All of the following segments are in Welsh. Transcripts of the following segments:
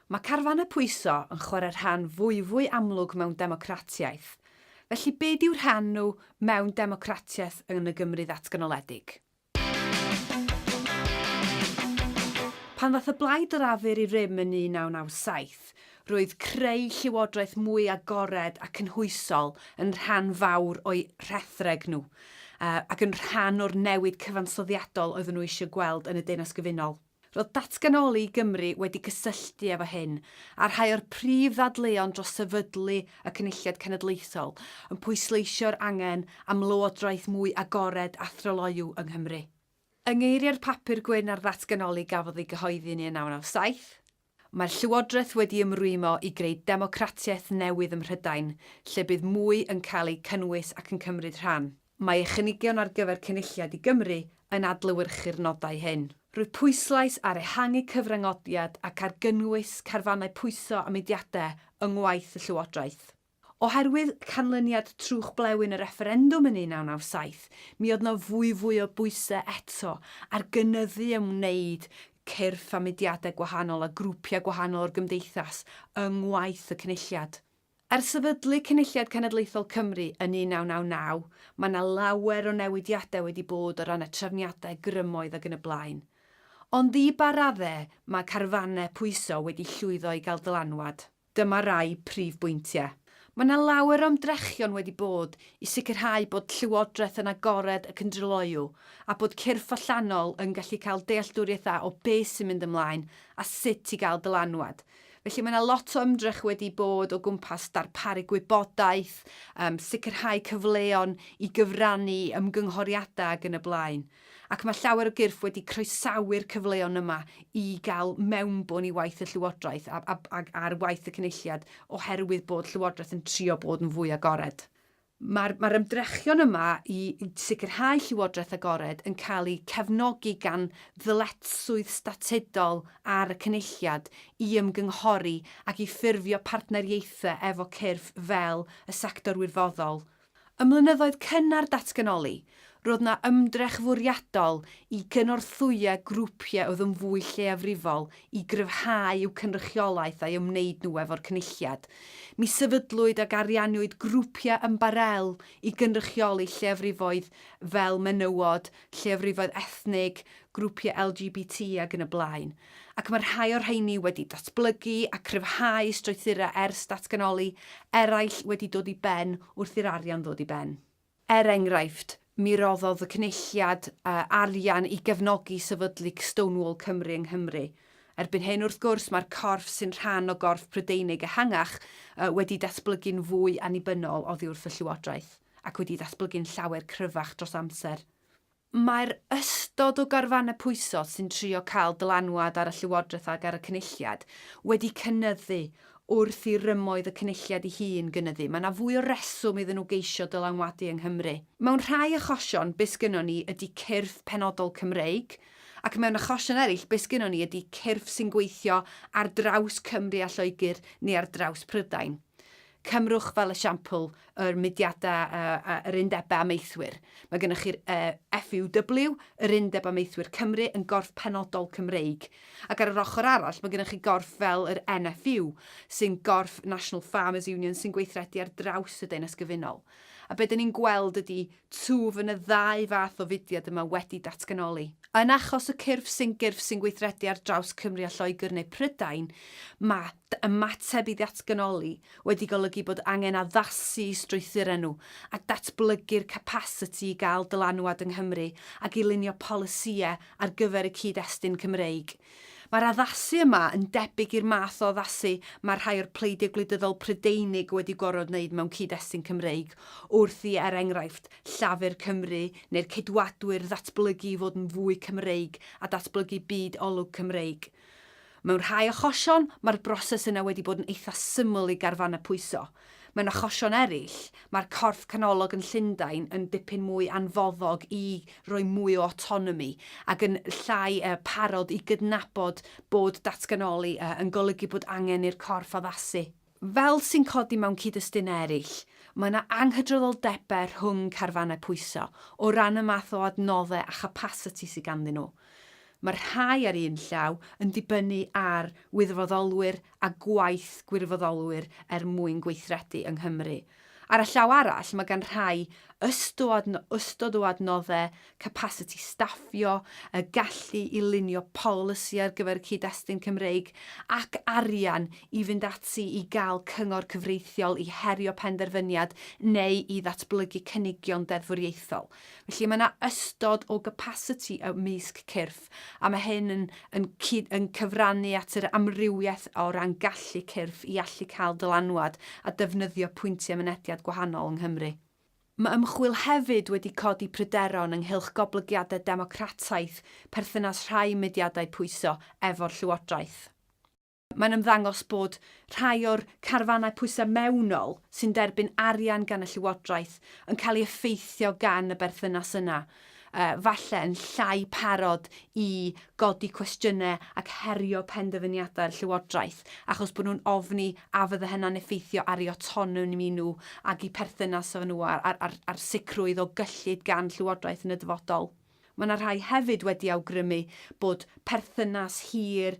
Mae carfanau pwyso yn chwarae rhan fwyfwy amlwg mewn democratiaeth, felly be dyw rhan nhw mewn democratiaeth yn y Gymru ddatganoledig? Pan ddaeth y Blaid Lafur i rym yn 1997, roedd creu llywodraeth mwy agored a cynhwysol yn rhan fawr o'u rhethreg nhw, ac yn rhan o'r newid cyfansoddiadol oedden nhw eisiau gweld yn y Deyrnas Gyfunol. Roedd Datganoli Gymru wedi cysylltu efo hyn, a rhai o'r prif ddadleuon dros sefydlu y Cynulliad Cenedlaethol yn pwysleisio'r angen am lywodraeth mwy agored a thryloyw yng Nghymru. Yng ngeiriau'r papur gwyn ar ddatganoli gafodd ei gyhoeddi yn 1997, Mae'r Llywodraeth wedi ymrwymo i greu democratiaeth newydd ym Mhrydain, lle bydd mwy yn cael eu cynnwys ac yn cymryd rhan. Mae ei chynigion ar gyfer Cynulliad i Gymru yn adlewyrchu'r nodau hyn. Roedd pwyslais ar ehangu cyfrangodiad ac ar gynnwys carfannau pwyso a mudiadau yng ngwaith y Llywodraeth. Oherwydd canlyniad trwch blewyn y refferendwm yn 1997, mi oedd 'na fwyfwy o bwysau eto ar gynyddu a wneud cyrff a mudiadau gwahanol a grwpiau gwahanol o'r gymdeithas yng ngwaith y Cynulliad. Ers sefydlu Cynulliad Cenedlaethol Cymru yn 1999, mae 'na lawer o newidiadau wedi bod o ran y trefniadau, grymoedd ac yn y blaen. Ond i ba raddau mae carfannau pwyso wedi llwyddo i gael dylanwad? Dyma rai prif bwyntiau. Mae yna lawer o ymdrechion wedi bod i sicrhau bod Llywodraeth yn agored ac yn dryloyw, a bod cyrff allanol yn gallu cael dealltwriaeth dda o beth sy'n mynd ymlaen a sut i gael dylanwad. Felly mae yna lot o ymdrech wedi bod o gwmpas darparu gwybodaeth, yym sicrhau cyfleon i gyfrannu i ymgynghoriadau ac yn y blaen. ac mae llawer o gyrff wedi croesawu'r cyfleon yma i gael mewnbwn i waith y Llywodraeth a, a, a, ar waith y Cynulliad oherwydd bod Llywodraeth yn trio bod yn fwy agored. Mae'r mae ymdrechion yma i sicrhau Llywodraeth agored yn cael eu cefnogi gan ddyletswydd statudol ar y Cynulliad i ymgynghori ac i ffurfio partneriaethau efo cyrff fel y sector wirfoddol, Ym mlynyddoedd cynnar datganoli, roedd yna ymdrech fwriadol i gynorthwyo grwpiau oedd yn fwy lleiafrifol i gryfhau i'w cynrychiolaeth a'i ymwneud nhw efo'r Cynulliad. Mi sefydlwyd ac arianniwyd grwpiau ymbarél i gynrychioli lleiafrifoedd fel menywod, lleiafrifoedd ethnig, grwpiau LGBT, ac yn y blaen. ac mae rhai o'r rheiny wedi datblygu a chryfhau strwythurau ers datganoli, eraill wedi dod i ben wrth i'r arian ddod i ben. Er enghraifft, mi roddodd y Cynulliad arian i gefnogi sefydlu Stonewall Cymru yng Nghymru. Erbyn hyn, wrth gwrs, mae'r corff sy'n rhan o gorff Prydeinig ehangach wedi datblygu'n fwy annibynnol oddi wrth y Llywodraeth, ac wedi datblygu'n llawer cryfach dros amser. Mae'r ystod o garfannau pwysog sy'n trio cael dylanwad ar y Llywodraeth ac ar y Cynulliad wedi cynyddu wrth i rymoedd y Cynulliad ei hun gynyddu. Mae 'na fwy o reswm iddyn nhw geisio dylanwadu yng Nghymru. Mewn rhai achosion, be sgynnon ni ydi cyrff penodol Cymreig, ac mewn achosion eraill, be sgynnon ni ydi cyrff sy'n gweithio ar draws Cymru a Lloegr neu ar draws Prydain. Cymrwch fel esiampl yr mudiadau a'r yr Undebau Amaethwyr. Mae gennych chi'r FUW, yr Undeb Amaethwyr Cymru, yn gorff penodol Cymreig. Ac ar yr ochr arall, mae gennych chi gorff fel yr NFU, sy'n gorff National Farmers Union sy'n gweithredu ar draws y Deyrnas Gyfunol. A be' 'dan ni'n gweld ydi Twf yn y ddau fath o fudiad yma wedi datganoli. Yn achos y cyrff sy'n gyrff sy'n gweithredu ar draws Cymru a Lloegr neu Prydain, mae ymateb i ddatganoli wedi golygu bod angen addasu'u strwythurau nhw a datblygu'r capasiti i gael dylanwad yng Nghymru ac i lunio polisïau ar gyfer y cyd-destun Cymreig. Mae'r addasu yma yn debyg i'r math o addasu mae rhai o'r pleidiau gwleidyddol Prydeinig wedi gorfod wneud mewn cyd-destun Cymreig wrth i, er enghraifft, Llafur Cymru neu'r Ceidwadwyr ddatblygu i fod yn fwy Cymreig a datblygu byd olwg Cymreig. Mewn rhai achosion, mae'r broses yna wedi bod yn eitha' syml i garfannau pwyso. Mewn achosion eraill, mae'r corff canolog yn Llundain yn dipyn mwy anfoddog i roi mwy o autonomi ac yn llai parod i gydnabod bod datganoli yn golygu bod angen i'r corff addasu. Fel sy'n codi mewn cyd-destun eraill, mae yna anghydraddoldebau rhwng carfannau pwyso o ran y math o adnoddau a chapasiti sydd ganddyn nhw. Mae'r rhai ar un llaw yn dibynnu ar wirfoddolwyr a gwaith gwirfoddolwyr er mwyn gweithredu yng Nghymru. Ar y llaw arall, mae gan rhai ystod ystod o adnoddau, capasiti staffio, y gallu i lunio polisi ar gyfer y cyd-destun Cymreig, ac arian i fynd ati i gael cyngor cyfreithiol i herio penderfyniad neu i ddatblygu cynigion deddfwriaethol. Felly mae yna ystod o gapasiti ymysg cyrff, a mae hyn yn, yn, cyd, yn cyfrannu at yr amrywiaeth o ran gallu cyrff i allu cael dylanwad a defnyddio pwyntiau mynediad gwahanol yng Nghymru. Mae ymchwil hefyd wedi codi pryderon ynghylch goblygiadau democrataeth perthynas rhai mudiadau pwyso efo'r llywodraeth. Mae'n ymddangos bod rhai o'r carfanau pwysau mewnol sy'n derbyn arian gan y Llywodraeth yn cael ei effeithio gan y berthynas yna, falle yn llai parod i godi cwestiynau ac herio penderfyniadau'r Llywodraeth achos bod nhw'n ofni a fydde hynna'n effeithio ar eu awtonomi nhw ac eu perthynas efo nhw a'r sicrwydd o gyllid gan Llywodraeth yn y dyfodol. Mae yna rhai hefyd wedi awgrymu bod perthynas hir,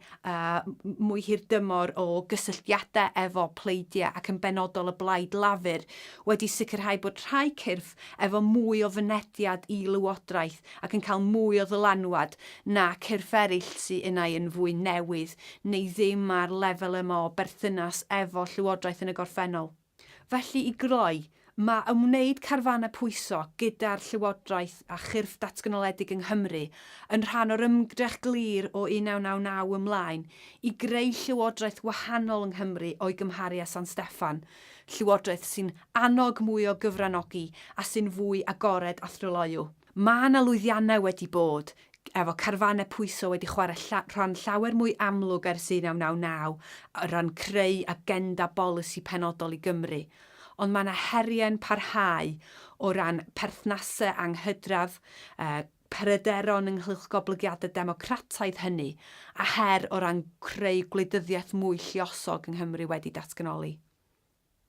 mwy hirdymor o gysylltiadau efo pleidiau ac yn benodol y Blaid Lafur wedi sicrhau bod rhai cyrff efo mwy o fynediad i lywodraeth ac yn cael mwy o ddylanwad na cyrff eraill sy unai yn fwy newydd neu ddim ar lefel yma o berthynas efo llywodraeth yn y gorffennol. Felly, i groi, mae ymwneud carfanau pwyso gyda'r Llywodraeth a chyrff datganoledig yng Nghymru yn rhan o'r ymdrech glir o 1999 ymlaen i greu Llywodraeth wahanol yng Nghymru o'i gymharu â San Steffan, Llywodraeth sy'n annog mwy o gyfranogi a sy'n fwy agored a thryloyw. Mae 'na lwyddiannau wedi bod, efo carfanau pwyso wedi chwarae lla rhan llawer mwy amlwg ers 1999 o ran creu agenda bolisi penodol i Gymru, ond mae 'na heriau'n parhau o ran perthnasau anghydradd, y pryderon ynghylch goblygiadau democrataidd hynny, a her o ran creu gwleidyddiaeth mwy lluosog yng Nghymru wedi datganoli.